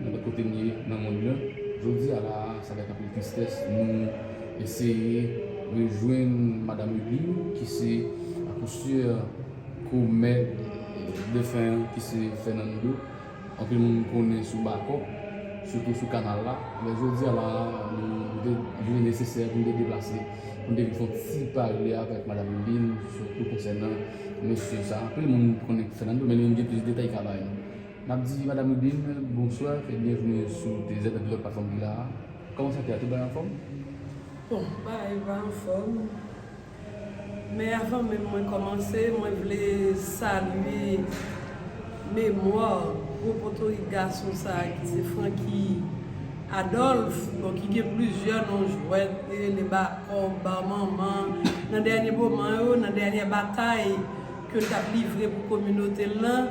Nenpòt kote n ye nan monn nan, jodi a la a, se avèk anpil tristès nou eseye rejwenn Madam Ludmile ki se a coup sûr komèt defen an ki se Fernando, anpil moun konnen sou Bakòp, sitou sou kanal la. Men jodi a la a, li te vle nesesè pou m te deplase, pou m te vin fè yon ti pale avèk Madam Ludmile sitou konsènan mesye sa. Anpil moun konnen Fernando men li menm gen plis detay li ka ba nou. N ap di Madam Ludin bonswa e byenvni sou TZ epi lòt platfòm ki la a. Kòman sante a? Tout bagay anfòm? Bon, bagay yo pa anfòm. Men avan menm mwen kòmanse, mwen vle salye memwa gwo potorik gason sa a ki se Francky Adolphe, bon ki gen plizyè non jwèt, li rele Bakòk, Bar Manman. Nan dènye moman yo, nan dènyè batay ke l t ap livre pou kominote l lan,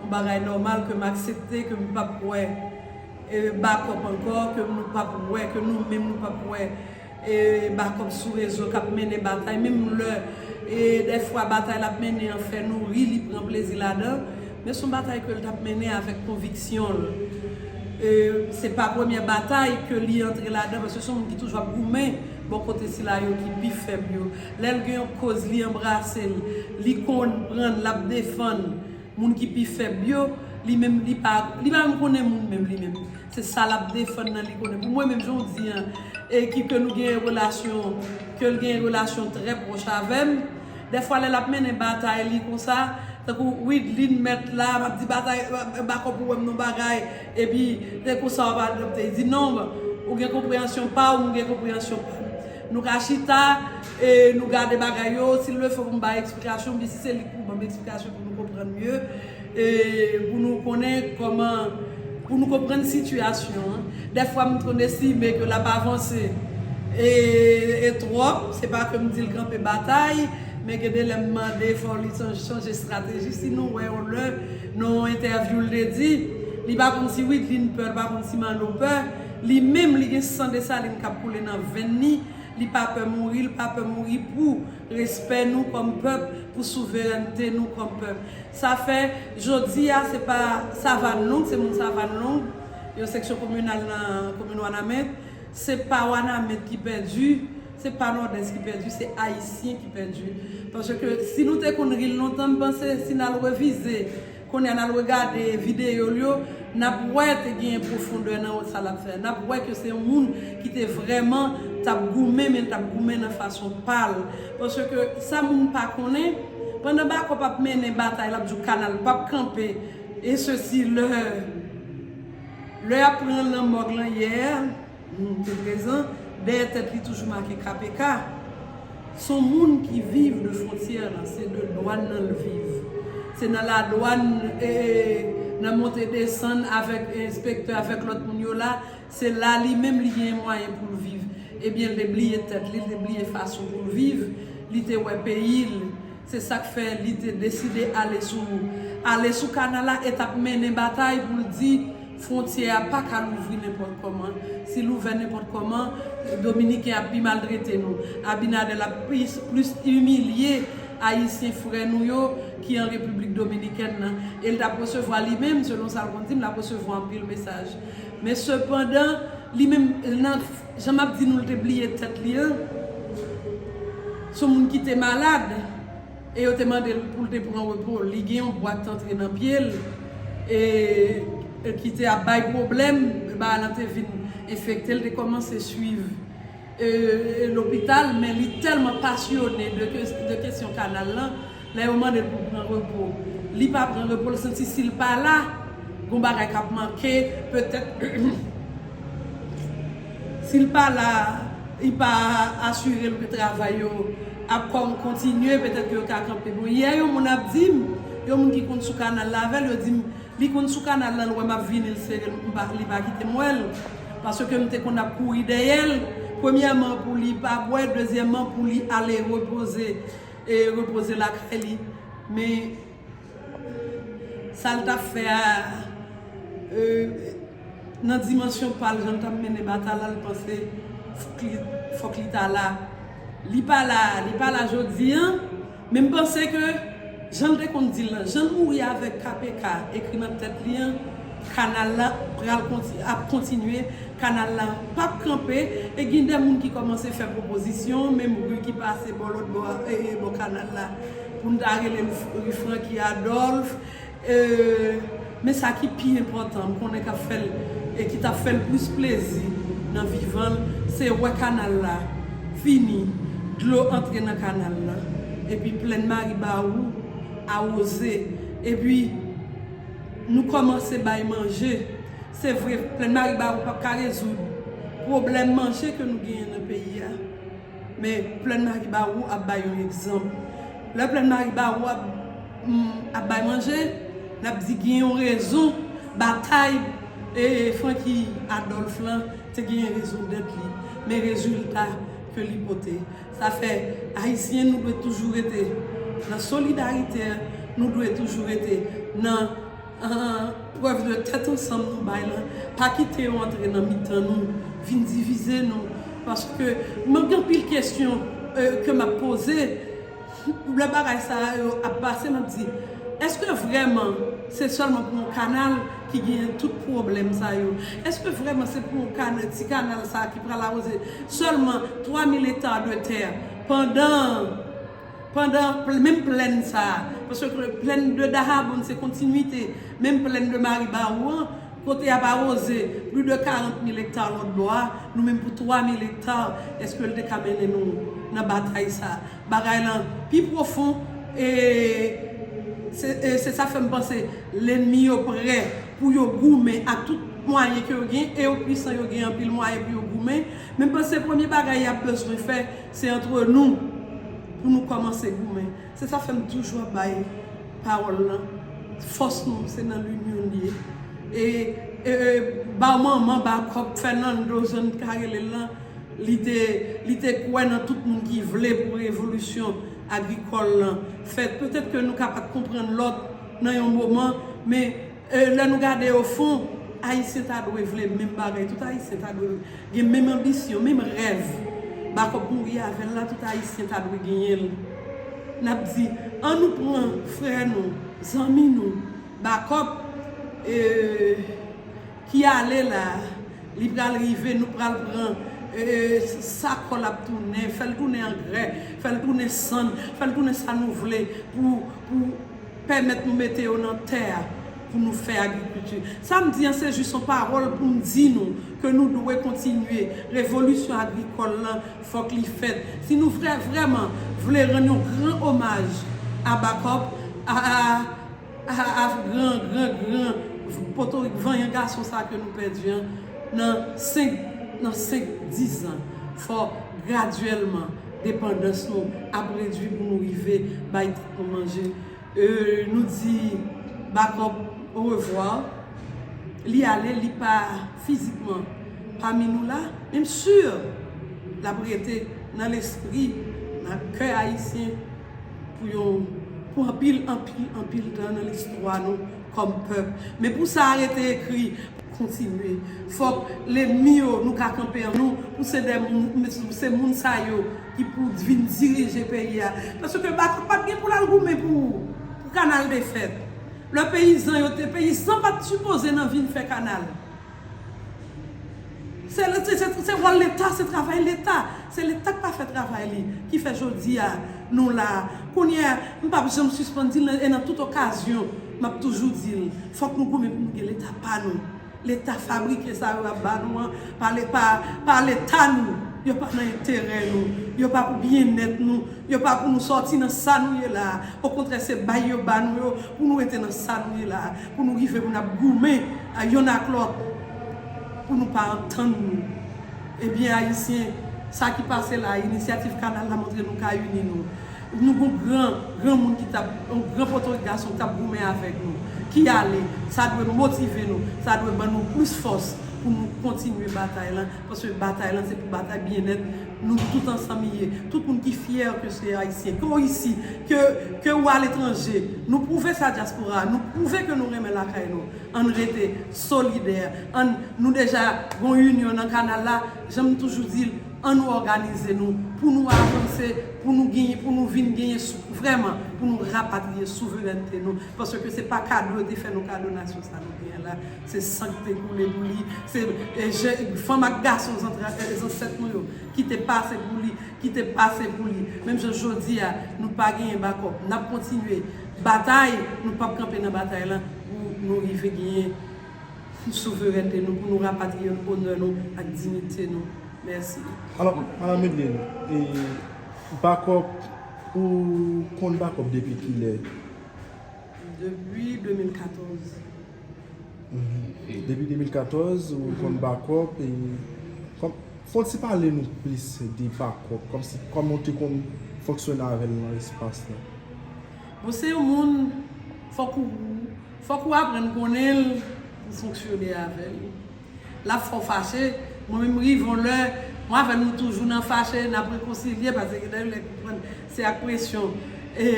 Yon bagay nòmal ke m aksepte ke m pap wè bakòp ankò, ke nou pap wè, ke nou menm nou pap wè bakòp sou rezo k ap mennen batay menm lè dè fwa batay l ap mennen an fè nou ri, li pran plezi ladan men s on batay ke l t ap mennen avèk konviksyon l se pa premyè batay ke li antre ladan paske s on moun ki toujou ap goumen bò kote sila yo ki pi fèb yo lè l gen yon koz li anbrase l li konn pran l l ap defann. Moun ki pi fèb yo, li menm li pa, li pa menm konnen moun menm li menm. Se sa lap defann nan li konnen. Pou mwen menm jan w di an, e ki ke nou genyen relasyon, ke l genyen relasyon trè pwòch avè m, dèfwa lè lap mennen batay li konsa, tankou Wideline mèt la, map di batay, bakò pou wè m non bagay, epi se konsa wap adopte. Li di non, ou gen konpreyansyon pa w, m gen konpreyansyon pa m. Nou ka chita. E nou gade bagay yo, sil le fo pou m bay eksplikasyon, m di si se li pou banm eksplikasyon pou nou konprann mye, e pou nou konnen koman, pou nou konprann sitiyasyon an. Dèfwa m konn estime ke l ap avanse e twòp, se pa ke m di l kanpe batay, men gen de lè m mande fò li chanje estrateji, si nou wè yon lè nan yon entèvyou l te di, li pa konn si Wideline pè, li pa konn si Manno pè, li menm li gen san Desalin k ap koule nan venn li, Li pa pè mouri, li pa pè mouri pou respè nou kòm pèp, pou souverènte nou kòm pèp. Sa fè, jodi a, se pa Savann Long, se moun Savann Long, yon seksyon kominal nan komin Wanament, se pa Wanament ki pèdi, se pa Nòdès ki pèdi, se Ayisyen ki pèdi. Paske si nou te konn ri l lontan, m panse si n al revize. Kounye a n al regade videyo l yo, n ap wè te genyen pwofondè nan sa l ap fè a. N ap wè ke se yon moun ki te vrèman t ap goumen, men l t ap goumen nan fason pa l. Paske sa moun pa konnen, pandan Bakòp ap mennen batay, l ap di w kanal p ap kanpe, e sesi lè lè y ap pran l nan mòg lan yè. Nou te prezan. Dèyè tèt li toujou make KPK. S on moun ki viv de fwontyè lan. Se de dwàn lan l viv. Se nan ladwàn, e nan monte desann avèk enspektè, avèk lòt moun yo la. Se la li menm li genyen mwayen pou l viv. Ebyen l te bliye tèt li, li te bliye fason pou l viv. Li te wè peyi l. Se sa k fè li te deside ale sou ale sou kanal la e t ap mennen batay pou l di fwontyè a pa ka louvri nenpòt kòman. Si l ouvè nenpòt kòman, Dominiken ap pi maltrete nou. Abinader ap plis imilye Ayisyen frè nou yo ki an Repiblik Dominikèn nan. E l t ap resevwa li menm, selon sa l konn di m, l ap resevwa anpil mesaj. Men sepandan, li menm nan. Jan map di nou li te bliye tèt li an son moun ki te malad e yo te mande l pou l te pran repo li gen yon bwat antre nan pye l e ki te ap bay pwoblèm e bagay lan te vin enfekte l te kòmanse swiv lopital men li tèlman pasyone de kesyon kanal lan Lè yo mande l pou l pran repo, li pa pran repo, l santi si l pa la, gon bagay k ap manke, petèt si l pa la, li pa asire l ke travay yo ap kontinye, petèt ke yo ka kanpe. Bon, yè yon moun ap di m, yon moun ki konn sou kanal la avè l, yo di m, li konn sou kanal la, l wè m ap vini, l sere m, li pa kite m wè l, paske m te konn ap kouri dèyè l, premyèman pou li pa bwè, dezyèman pou li ale repoze. E repoze lakay li. Men sa l t ap fè a nan dimansyon pa l, jan l t ap mennen batay la, l panse fòk li ta la. Li pa la, li pa la jodi an. Men m panse ke jan l te konn di l lan, jan l mouri avèk KPK ekri nan tèt li an. Kanal la pral ap kontinye, kanal la pap kanpe e gin de moun ki kòmanse fè pwopozisyon, menm ri ki pase bò lòt bò ee bò kanal la pou n ta rele l ri Francky Adolphe ee men sa ki pi enpòtan m konnen k ap fè l e ki t ap fè l plis plezi nan vivan l se wè kanal la fini dlo antre nan kanal la epi plèn Maribawou awoze epi. Nou kòmanse bay manje. Se vre, Plèn Maribawou pap ka rezoud pwoblèm manje ke nou genyen nan peyi a, men Plèn Maribawou ap bay yon egzanp. Lè Plèn Maribawou ap bay manje, n ap di gen yon rezon batay Francky Adolphe lan te genyen rezon dèt li, men rezilta ke li pote. Sa fè Ayisyen nou dwe toujou rete nan solidarite, nou dwe toujou rete nan prèv de tèt ansanm nou bay lan, pa kite yo antre nan mitan nou, vin divize nou, paske mwen gen anpil kesyon ke m ap poze. Lè bagay sa yo ap pase map di eske vreman se selman pou yon kanal ki genyen tout pwoblem sa yo? Eske vreman se pou yon kanal, ti kanal sa ki pral awoze selman 3000 hectares de terre pandan pandan menm plèn sa paske plèn de Dahabonn se kontinuite menm plèn de Maribawou an kote yap awoze plus de 40000 hectares lòt bò a nou menm pou 3000 hectares eske li te ka mennen nou nan batay sa? Bagay lan pi pwofon e se sa k fè m panse lennmi yo prè pou yo goumen ak tout mwayen ke yo gen e yo pwisan yo gen anpil mwayen pou yo goumen men m panse premye bagay y ap bezwen fè se antre nou pou nou kòmanse goumen se sa k fè m toujou ap bay pawòl lan fòs nou se nan linyon l ye e e ba w manman ba w kòb Fènando jan n ka rele l lan. Li te li te kwè nan tout moun ki vle pou revolisyon agrikòl lan fèt. Petèt ke nou ka pat konprann lòt nan yon moman, men lè nou gade ofon, Ayisyen ta dwe vle menm bagay. Tout Ayisyen ta dwe gen menm anbisyon, menm rèv Backup mouri avè l la, tout Ayisyen ta dwe genyen l. N ap di, an nou pran frè nou, zanmi nou, Backup, e. Ki ale la Li pral rive nou pral pran sa kòl ap tounen fèl tounen angrè fèl tounen sann fèl tounen sa nou vle pou pou pèmèt nou mete yo nan tè a pou nou fè agrikilti sa m di an se jis yon pawòl pou m di nou ke nou dwe kontinye revolisyon agrikòl lan fòk li fèt si nou vrè vrèman vle rann yon gran omaj a Backup a Ahh avk gran gran gran potorik vanyan gason sa ke nou pèdi an nan 5 nan 5 10 ans fò gradyèlman depandans nou ap redwi pou nou rive bay tèt nou manje euh nou di Backup orevwa li ale li pa fizikman pami nou la men m sur lap rete nan lespri nan kè ayisyen. Pou yo, pou anpil, anpil, anpil tan nan listwa nou kòm pèp. Men pou sa a rete ekri. Kontinye. Fòk lenmi yo, nou ka kanpe an nou, pou se dè moun, m mèt di nou, se moun sa yo ki pou vin dirije peyi a. Paske Baton pa t gen pou l al goumen pou, pou kanal te fèt. Lè peyizan yo te, peyizan pa t sipoze nan vin fè kanal. Se wòl leta, se travay leta. Se leta k pa fè travay li ki fè jodi a nou la a. Kounye a, m pap janm sispann di l e nan tout okazyon m ap toujou di l, fòk nou goumen pou nou gen leta pa nou. Leta fabrike sa yo y ap ba nou an pa leta nou. Yo pa nan enterè nou. Yo pa pou byennèt nou. Yo pa pou nou sòti nan sa nou ye la a. Okontrè se bay yo ba nou yo pou nou rete nan sa nou ye la a. Pou nou rive pou n ap goumen yonn ak lòt pou nou pa antann nou. Ebyen Ayisyen, sa ki pase la a, Inisyativ Kanal la montre nou ka ini nou. Nou gon gran, gran moun ki t ap, yon gran potorik gason ki t ap goumen avèk nou, ki ale. Sa dwe motive nou, sa dwe ban nou plis fòs pou nou kontinye batay lan. Paske batay lan se pou batay byennèt nou tout ansanm li ye. Tout moun ki fyè ke se Ayisyen, ke w isi, ke ou aletranje, nou pwouve sa dyaspora a, nou pwouve ke nou renmen lakay nou. Ann rete solidè, ann, nou deja gon inyon nan kanal la, jan m toujou di l, an nou òganize nou pou nou avanse, pou nou genyen, pou nou vin genyen vrèman, pou nou rapatriye souverènte nou, paske se pa kado yo te fè nou kado nasyon sa nou genyen la. Se san ki te koule pou li, se je fanm ak gason zansèt nou yo ki te pase pou li, ki te pase pou li. Menm jan jodi a, nou pa genyen bakòp. N ap kontinye batay, nou pap kanpe nan batay lan pou nou rive genyen souverènte nou, pou nou rapatriye onè nou ak diyite nou. Mèsi. Alò, Madam Medline, bakòp, ou konn bakòp depi ki lè? Depi 2014. Depi 2014 ou konn bakòp e fon ti pale nou plis de bakòp kòmsi kòman ou te konn fonksyone avèl nan espas la. Bon se yon moun fòk ou fòk ou aprann konnen l pou w fonksyone avè l. L ap fè w fache, mwen menm m rive yon lè mwen avè l nou toujou nan fache n ap rekonsilye pase gen de lè konprann se ak presyon e.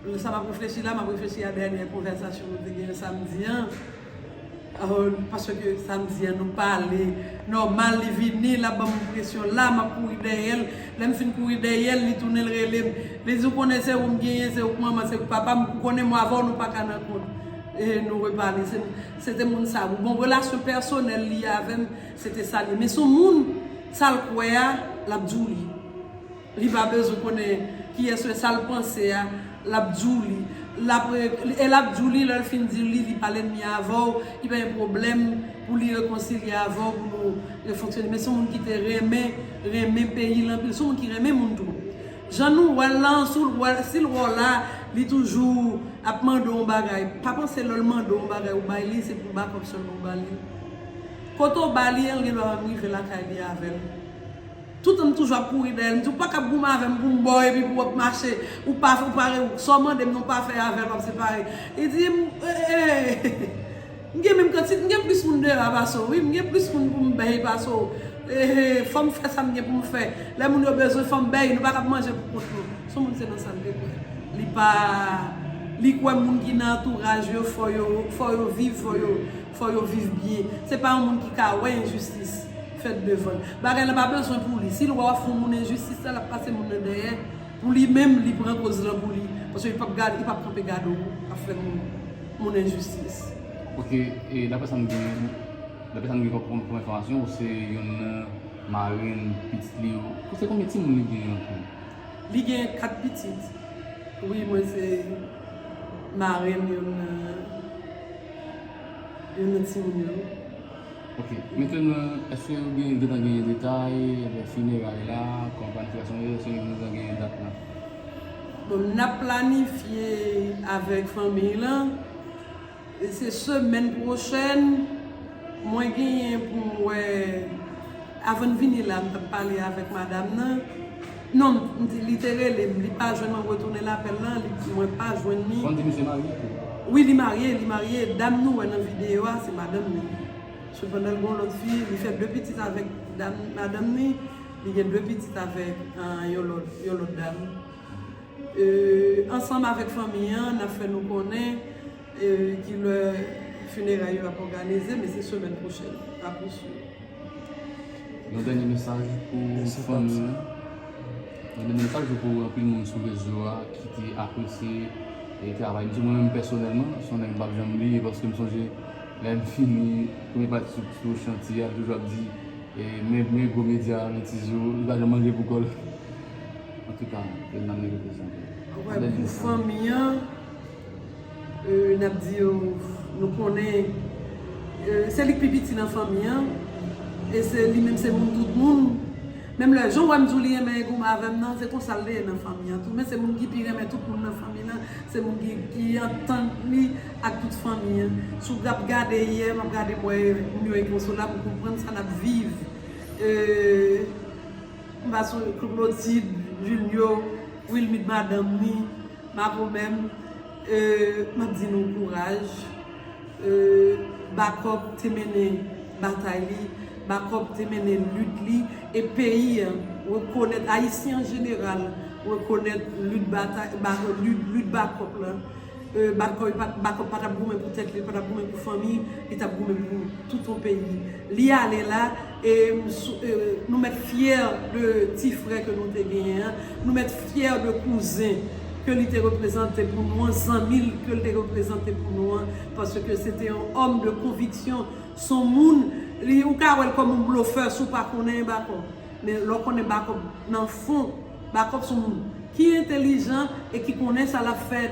Lè sa m ap reflechi la, m ap reflechi a dènyè konvèsasyon nou te genyen samdi an. Paske samdi an nou pale nòmal, li vini, l ap ban m enpresyon la, m ap kouri dèyè l. Lè m fin kouri dèyè l, li tounen l rele m. Li di, ou konnen se ou m genyen, se ou k manman, se ou k papa m. Ou konnen mwa avè w nou pa ka nan kont. E nou repale. Se te moun sa. Bon, relasyon pèsonèl li avè m. Se te sa li men son moun sal kwè a lap diw li li pa bezwen konnen kiyès ou ye sal panse a lap diw li lap e lap diw li lèl fin diw li li pa lènmi avèw li pa gen pwoblèm pou li rekonsilye avèw pou nou refonksyone men son moun ki te renmen renmen peyil anpil son moun ki renmen moun tou jan nou wèl lan soul wè sil wè w la li toujou ap mande w yon bagay pa panse lèl mande w yon bagay ou bay li se pou backup sèlman ou bali. Kote w ba li an li gen dwa menm rive lakay li avè l. Toutan m toujou ap kouri dèyè l, m di w pa kab goumen avè m pou m ba w epi pou w ap mache, ou pa fè, ou pa re, sa w mande m nan w pa fè avè l w ap separe. Li di m, eeeehh, m gen menm kanti, m gen plis moun deyò a pase w wi, m gen plis moun pou m bèy pase w, eeeehh, fò m fè sa m gen pou m fè, lè moun yo bezwen fò m bèy, nou pa kab manje pou kont nou. S on moun se nan sa l te kwè. Li pa, li kwè moun ki nan antouraj yo fò yo, fò yo viv, fò yo. Fò yo viv byen. Se pa yon moun ki ka wè enjistis fèt devan l. Bagay lan pa bezwen pou li. Si l wè w ap fè yon moun enjistis la, l ap pase moun nan dèyè. Pou li menm, li pran koz lan pou li. Paske li p ap gade, li p ap kanpe gade w ap fè moun moun enjistis. Oke, e dapre sa m gen, dapre sa m gen kòm enfòmasyon, ou se yonn nan marenn pitit li yo. Ou se konbyen timoun li gen an tou? Li gen 4 pitit. Wi mwen se marenn youn nan timoun yo. Ok, mentenan eske yo gen gentan genyen detay de fineray la, kòman planifikasyon yo ye, eske yo gentan genyen dat la? Bon, nap planifye avèk fanmiy lan. Se semèn pwochèn mwen genyen pou m wè avan n vini la m t ap pale avèk madam nan non m di li te rele m li pa jwenn mwen retounen lapèl lan li di mwen pa jwenn li. Ou di misye marye tou? Wi li marye li marye dam nou wè nan videyo a se madanm li sepandan l gen yon lòt fi li fè 2 pitit avèk madanm li li gen 2 pitit avèk yon lòt dam. Ansanm avèk fanmi an, n ap fè nou konnen ki lè fineray yo ap òganize, men se semèn pwochèn. Yon dènye mesaj pou fanmi an. Yon dènye mesaj pou anpil moun sou rezo a ki te apresye travay misye. Mwen menm pèsonèlman, se yon nèg m pa p janm bliye paske m sonje lè m fini premye pati sou chantye a, l toujou ap di men gwo medya a, men tizou, li pa janm manje pou kò l. Antuka yo nan men reprezan tou. Anpwen pou fanmi an nap di yo nou konnen se li k pi piti nan fanmi an e se li menm se moun tout moun menm lè jan w wè m di w li renmen egom avèm nan se konsa li ye nan fanmi an tou men se moun ki pi renmen tout moun nan fanmi lan se moun ki pi antann li ak tout fanmi an si w ap gade yè m ap gade m wè moun yo ekonsola m konprann sa nap viv e. M pa sou Claudide, Julio, Wilmide madanm ni Mapou menm m ap di nou kouraj Backup te mennen batay li Backup te mennen lit li e peyi an rekonèt Ayisyen an jeneral rekonèt lit Backup lan. Backup pa tap goumen pou tèt li, li pa tap goumen pou fanmi, li tap goumen pou tout yon peyi. Li ale la e nou mèt fyè de ti frè ke nou te genyen an, nou mèt fyè de kouzen ke li te reprezante pou nou an, zanmi l ke li te reprezante pou nou an, paske se te yon òm de konviksyon, se yon moun, ou ka wè l kòm yon blofè si w pa konnen Backup, men lè w konnen Backup nan fon. Backup son moun ki entelijan e ki konnen sa lap fè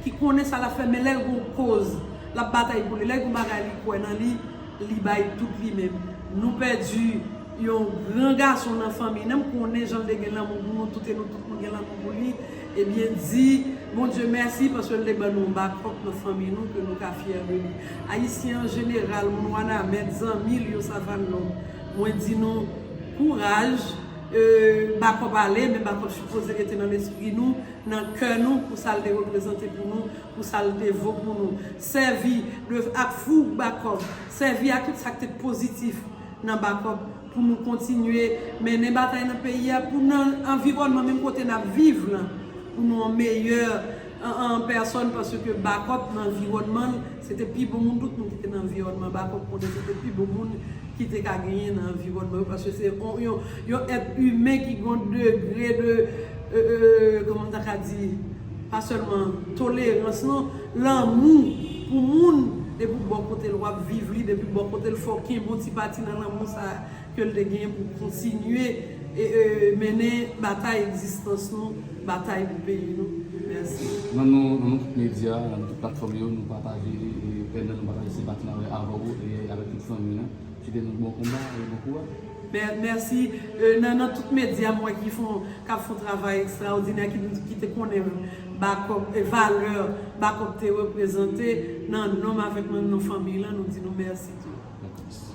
ki konnen sa lap fè men lèl gon koz lap batay pou li lèl gon bagay li kwè nan li li bay tout li menm nou pèdi yon gran gason nan fanmiy nan m konnen janl te gen lanmou pou nou tout e nou tout nou gen lanmou pou li ebyen di Bondye mèsi paske l te ban nou yon backup nan fanmiy nou ke nou ka fyè de li ayisyen an jeneral moun wanament zanmil yo savanlong mwen di nou kouraj Bakòp ale, men Bakòp sipoze rete nan lespri nou, nan kè nou, pou sa l te reprezante pou nou, pou sa l te vo pou nou. Sèvi de ak foug Bakòp, sèvi ak tout sa k te pozitif nan Bakòp pou nou kontinye mennen batay nan peyi a, pou nan anviwònman menm kote n ap viv lan, pou nou an meyè an an pèsòn paske Backup nan anviwònman l se te pi bon moun tout moun ki te nan anviwònman Backup konnen se te pi bon moun ki te ka genyen nan anviwònman yo paske se yon èt imen ki gen yon degre de kòman m ta ka di pa sèlman tolerans non lanmou pou moun depi w bò kote l w ap viv li depi bò kote l fè w kenbe yon ti pati nan lanmou sa a. ke l te genyen pou kontinye mennen batay egzistans nou, batay pou peyi nou. Mèsi. Nan non nou tout medya, nan nou tout platfòm yo, nou pataje pèn nan, nou pataje senpati nan avè w e avèk tout fanmi an. Swete nou bon konba e bon kouraj. Mèsi. Nan non tout medya m wè ki fon, k ap fon travay ekstraòdinè, ki te konnen Bakòk, valè Bakòk te reprezante, nan non m avèk nan non fanmi lan, nou di nou mèsi tou. Mèsi.